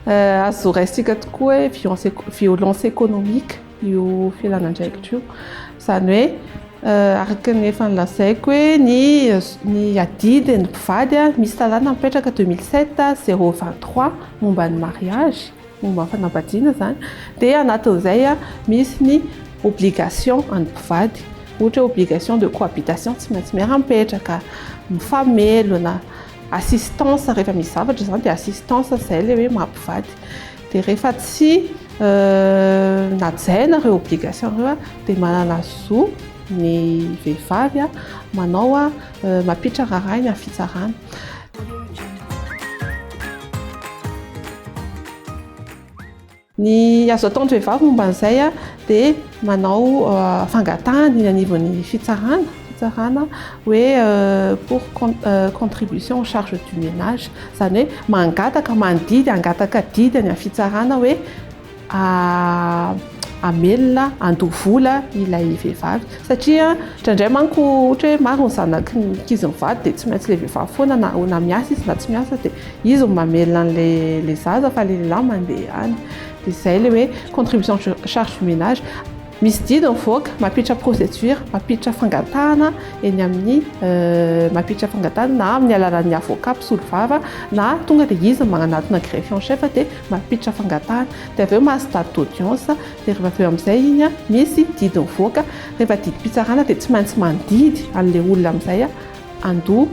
Azo raisintsika tokoa hoe violence économique io filan'andraikitra io. Izany hoe euh, araka ny efa nilazaiko hoe ny ny adidy ny mpivady misy lalàna mipetraka 2007 023 momba ny mariage momba ny fanambadiana izany dia anatin'izay misy ny obligation an'ny mpivady ohatra hoe obligation de cohabitation tsy maintsy miara-mipetraka, mifamelona, assistance rehefa misy zavatra izany dia assistance izay ilay hoe maha mpivady dia rehefa tsy najaina ireo obligation ireo dia manana zo ny vehivavy manao mampiditra rarahiny amin'ny fitsarana. Ny azo ataon'ny vehivavy momba an'izay dia manao fangatahana eny anivon'ny fitsarana fitsarana hoe pour contribution aux charges du ménage, izany hoe mangataka mandidy hangataka didy any amin'ny fitsarana hoe. hamelona handoa vola ilay vehivavy satria indraindray manko ohatra hoe maro ny zanaky ny ankizy mivady dia tsy maintsy ilay vehivavy foana na na miasa izy na tsy miasa dia izy no mamelona an'ilay zaza fa ilay lehilahy mandeha any dia izay ilay hoe contribution charge du ménage Misy didy mivoaka mampiditra procédure, mampiditra fangatahana eny amin'ny mampiditra fangatahana na amin'ny alalan'ny avocat mpisolovava na tonga dia izy manatona greffier en chef dia mampiditra fangatahana dia avy eo mahazo date d'audience dia rehefa avy eo amin'izay iny misy didy mivoaka rehefa didim-pitsarana dia tsy maintsy mandidy an'ilay olona amin'izay handoa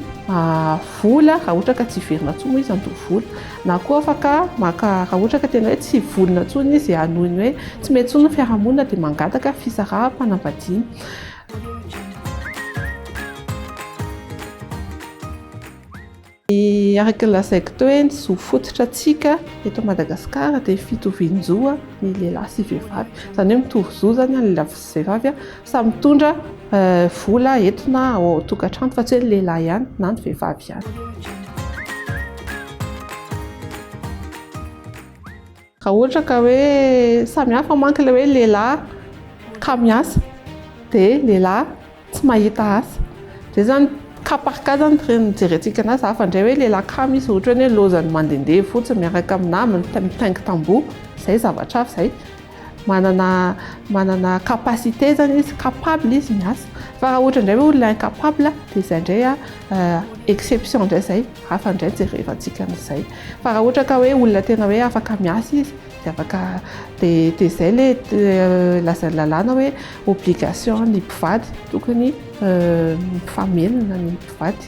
vola raha ohatra ka tsy hiverina intsony moa izy handoa vola na koa afaka maka raha ohatra ka tena hoe tsy vonona intsony izy hanohy ny hoe tsy mety intsony ny fiarahamonina dia mangataka fisaraham-panambadiana. Ny araka ny lazaiko teo hoe ny zo fototra antsika eto Madagasikara dia ny fitovian-jo ny lehilahy sy vehivavy, izany hoe mitovy zo izany ny lehilahy sy vehivavy. Samy mitondra vola eto na ao an-tokantrano fa tsy hoe ny lehilahy ihany na ny vehivavy ihany. Raha ohatra ka hoe samy hafa manko ilay hoe lehilahy ka miasa dia lehilahy tsy mahita asa. Izay izany cas par cas izany no hijerentsika an'azy fa hafa indray hoe lehilahy kamo izy ohatra hoe ny hoe lozany mandehandeha fotsiny miaraka amin'ny namany mitaingy tamboho, izay zavatra hafa izay. manana manana capacité zany izy capable izy miasa fa raha ohatra indray hoe olona incapable dia izay indray a euh, exception indray izay hafa indray jerevantsika an'izay fa raha ohatra ka hoe olona tena hoe afaka miasa izy dia afaka dia dia izay le euh, lazain'ny lalàna hoe obligation ny mpivady tokony euh, mifamelona ny mpivady